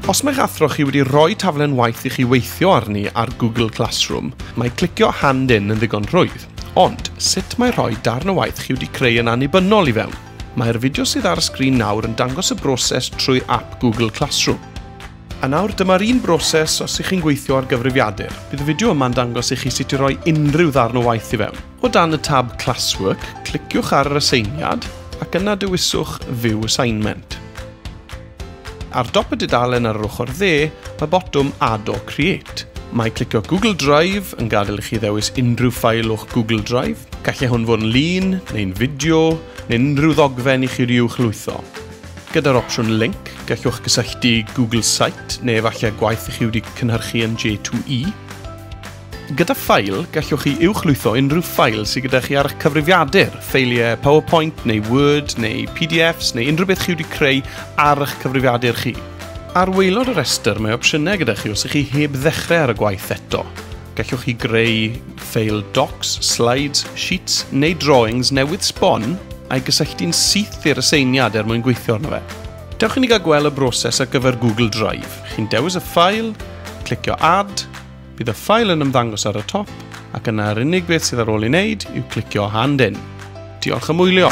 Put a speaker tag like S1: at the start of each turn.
S1: Os mae'ch athro chi wedi rhoi taflen waith i chi weithio arni ar Google Classroom, mae clicio Hand In yn ddigon rhwydd. Ond, sut mae rhoi darn o waith chi wedi creu yn annibynnol i fewn? Mae'r fideo sydd ar y sgrin nawr yn dangos y broses trwy ap Google Classroom. A nawr, dyma'r un broses os ych chi'n gweithio ar gyfrifiadur. Bydd y fideo yma'n dangos i chi sut i roi unrhyw ddarn o waith i fewn. O dan y tab Classwork, cliciwch ar yr aseiniad ac yna dewiswch View Assignment. Ar dop y dudalen ar yr ochr dde, mae botwm Add or Create. Mae clicio Google Drive yn gadael i chi ddewis unrhyw ffael o'ch Google Drive. Gallai hwn fod yn lun, neu'n fideo, neu unrhyw ddogfen i chi rhyw chlwytho. Gyda'r opsiwn Link, gallwch gysylltu Google Site neu efallai gwaith i chi wedi cynhyrchu yn J2E. Gyda Ffeil, gallwch chi uwchlwytho unrhyw ffail sydd gyda chi ar eich cyfrifiadur, ffeiliau PowerPoint neu Word neu PDFs neu unrhyw beth chi wedi creu ar eich cyfrifiadur chi. Ar waelod y rhestr mae opsiynau gyda chi os ych chi heb ddechrau ar y gwaith eto. Gallwch chi greu ffeil docs, slides, sheets neu drawings newydd sbon a'i gysylltu'n syth i'r aseiniad er mwyn gweithio arno fe. Dewch i ni gael gweld y broses ar gyfer Google Drive. Chi'n dewis y ffail, clicio Add, Bydd y ffael yn ymddangos ar y top ac yna yr unig beth sydd ar ôl ei wneud yw clicio Hand In. Diolch am wylio!